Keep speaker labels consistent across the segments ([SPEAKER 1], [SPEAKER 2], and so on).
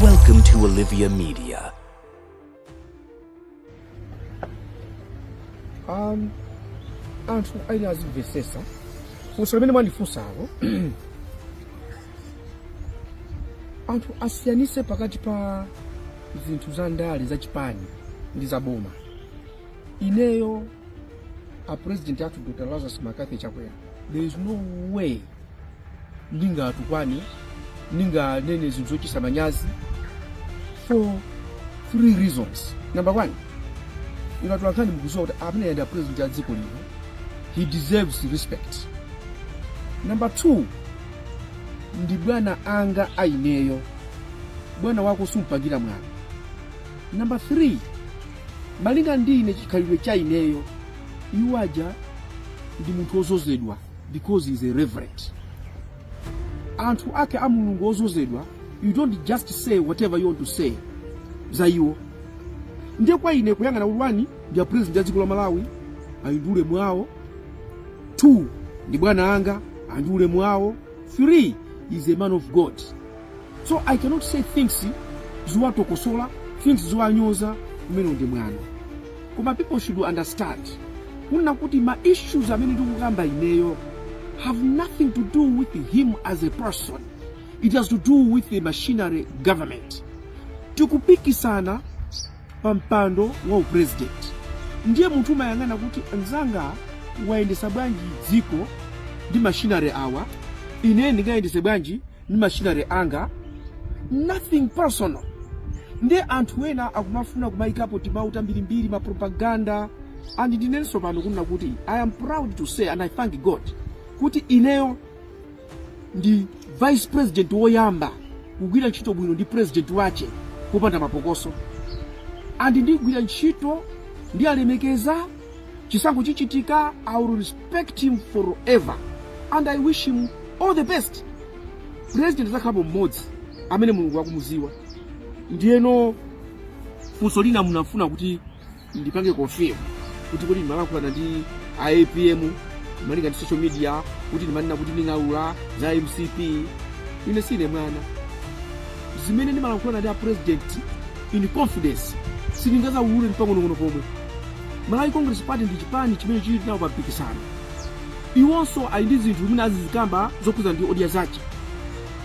[SPEAKER 1] Welcome to Olivia
[SPEAKER 2] Media. Um, anthu aine azimvesesa funso limene mwandifunsalo anthu asiyanise pakati pa zinthu za ndale za chipani ndi za boma ineyo a president athu dr lazarus mccarthy chakwera there is no way ndingatukwane ndinganene zinthu zochititsa manyazi for three reasons number one ino tulankhani mukuziwa kuti amene ya ndi a president ya dziko lino he deserves respect number two ndi bwana anga aineyo bwana wako sumpangira mwano number three Malinga ndi ine chikhalidwe cha ineyo iwo aja ndi munthu wozozedwa because he is a reverend anthu ake a mulungu ozozedwa you don't just say whatever you want to say za iwo ndiye kwa ine kuyang'ana rule one ndi a president ya dziko la malawi ali ndi ulemu awo two ndi bwana anga ali ndi ulemu awo three he is a man of god so i cannot say things ziwatokosola things ziwanyoza kumene ndi mwano koma people should understand kunena kuti ma issues amene ndikukamba ineyo have nothing to do with him as a person it has to do with the machinery government tikupikisana pa mpando wa upresident ndiye munthu umayang'ana kuti anzanga ayendesa bwanji dziko ndi machinery awa ine ndingayendese bwanji ndi machinery anga nothing personal nde anthu ena akumafuna kumayikapo timawu tambirimbiri mapropaganda and ndinenso pano kunena kuti i am proud to say and i thank god kuti ineyo ndi vice president woyamba kugwira ntchito bwino ndi president wache popanda mapokoso and ndigwira ntchito ndiyalemekeza chisankho chichitika i will respect him forever and i wish him all the best president azakhalapo mmodzi amene mulungu akumuziwa ndiyeno funso lina munafuna kuti ndipange confirm kuti kodi ndimalankhulana ndi a apm malinga ndi social media kuti ndimanena kuti nding'alula za mcp ine sine mwana zimene ndimalankhulana ndi a president in confidence sindingazawulule ndi pang'onong'ono pomwe Malawi Congress Party ndi chipani chimene chili nawo pa mpikisano. Iwonso ali ndi zinthu zimene azizikamba zokhudzana ndi audience zache.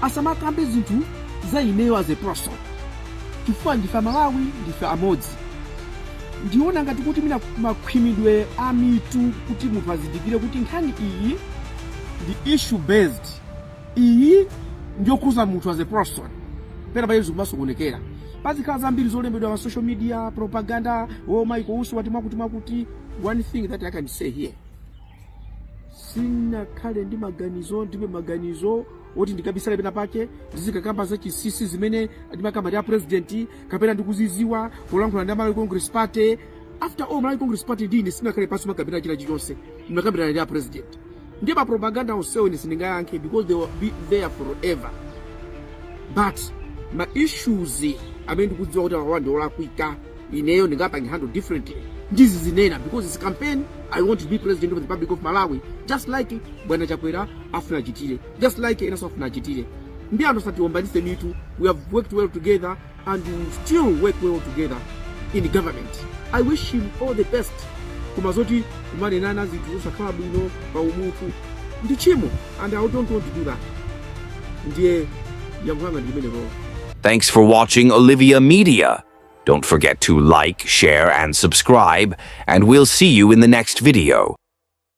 [SPEAKER 2] Asamakambe zinthu za ineyo as a person chifukwa ndife Amalawi, ndife amodzi. Ndiwona ngati kuti mwina makhwimidwe a mitu kuti munthu azindikire kuti nkhani iyi ndi issue based. iyi ndi yokhudza munthu as a person pena pake zikumasokonekera pazikhala zambiri zolembedwa pa social media propaganda zomayika uti wati mwakuti mwakuti one thing that i can say here sindinakhale ndi maganizo ndilibe maganizo oti ndikabisale pena pake ndizikakamba za chinsinsi zimene ndimakamba ndi a president kapena ndikuzidziwa kulankhula ndi a malawi congress party after all malawi congress party ndi ine sitinakhale pansi kumakambirana china chilichonse ndimakambirana ndi a president ndiye mapropaganda onsewo ine sindingayankhe because they will be there forever but ma issues amene ndikudziwa kuti awawa ndi olakwika ineyo ndingapange handle differently ndizizinena because it's a campaign i want to be president of the republic of malawi just like bwana chakwera afuna achitire just like enanso afuna achitire ndiye anthu asatiombanitse mitu we have worked well together and will still work well together in government. I wish him all the best. Koma zoti kumanenana zinthu zosakhala bwino pa umunthu ndi chimo and I don't want to do that. Ndiye yankho langa ndi limenelo. Thanks for
[SPEAKER 1] watching Olivia Media. Don't forget to like, share, and subscribe, and we'll see you in the next video.